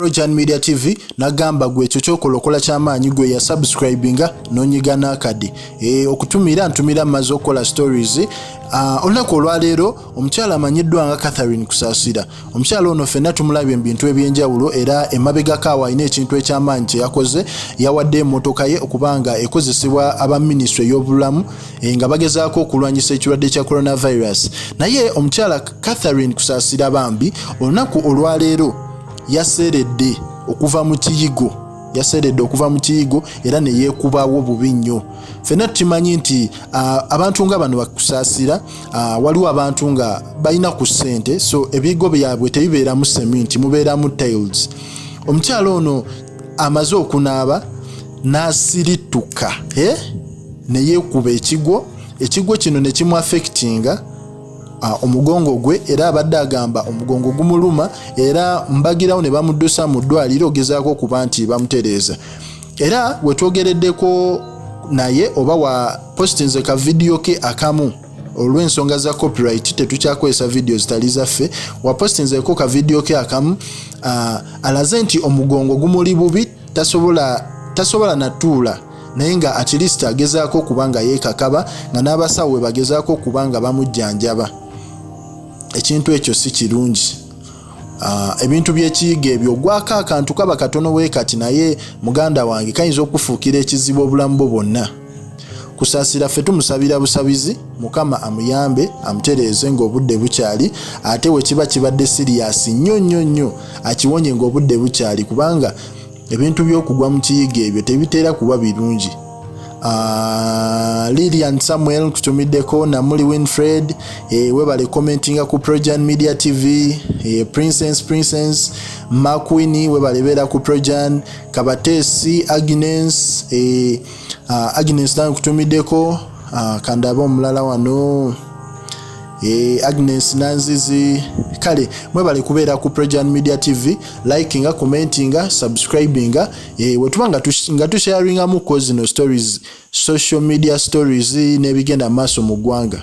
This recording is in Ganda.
Rojan Media TV nagamba gwe ekyo kyokola okola kyamaanyi gwe ya subscribinga nonyiga nakadi e, okutumira ntumira maze okukola stories uh, olunaku olwaleero omukyala amanyiddwa nga Catherine Kusasira omukyala ono fenna tumulabye mu bintu ebyenjawulo era emabegako awo alina ekintu ekyamaanyi kye yakoze yawadde emotoka ye okubanga ekozesebwa aba minisitule y'obulamu e, nga bagezaako okulwanyisa ekirwadde kya coronavirus naye omukyala Catherine Kusasira bambi olunaku olwaleero yaseeredde okuva mu kiyigo yaseeredde okuva mu kiyigo era ne yeekubawo bubi nnyo ffenna tukimanyi nti abantu nga bano bakusaasira waliwo abantu nga balina ku ssente so ebiyigo byabwe tebibeeramu seminti mubeeramu tiles omukyala ono amaze okunaaba n'asirittuka ne yeekuba ekigo ekigo kino ne kimu affectinga Ah, omugongo gwe era abadde agamba omugongo gumuluma era mbagirawo ne bamuddusa mu ddwaliro ogezaako okuba nti bamutereeza era wetwogereddeko naye oba wa postinze ka vidiyo ke akamu olw'ensonga za copyright tetukyakozesa vidiyo zitali zaffe wapostinzeko ka vidiyo ke akamu ah, alaze nti omugongo gumuli bubi tasobola natuula naye nga at least agezaako okuba nga yeekakaba nga n'abasawo bwe bagezaako okuba nga bamujjanjaba ekintu ekyo si kirungi ah, ebintu by'ekiyiga ebyo ogwako akantu kaba katono bwe kati naye muganda wange kayinza okufuukira ekizibu obulamu bwo bwonna kusaasira ffe tumusabira busabizi mukama amuyambe amutereeze ng'obudde bukyali ate we kiba kibadde siriyasi nnyo nnyo nnyo akiwonye ng'obudde bukyali kubanga ebintu by'okugwa mu kiyiga ebyo tebitera kuba birungi ah, lilian samuel nkutumiddeko namuli winfred eh, webale commentinga ku projan media tv eh, princess princess maquini webale beera ku projan kabatesi agnes eh, ah, agnes nawe nkutumiddeko ah, kandabe omulala wano E, Agnes Nanzizi kale mwebale kubeera ku Prejan Media TV likinga commentinga subscribinga e, wetuba nga, tush, nga tusharingamu ko zino stories social media stories n'ebigenda maaso mu ggwanga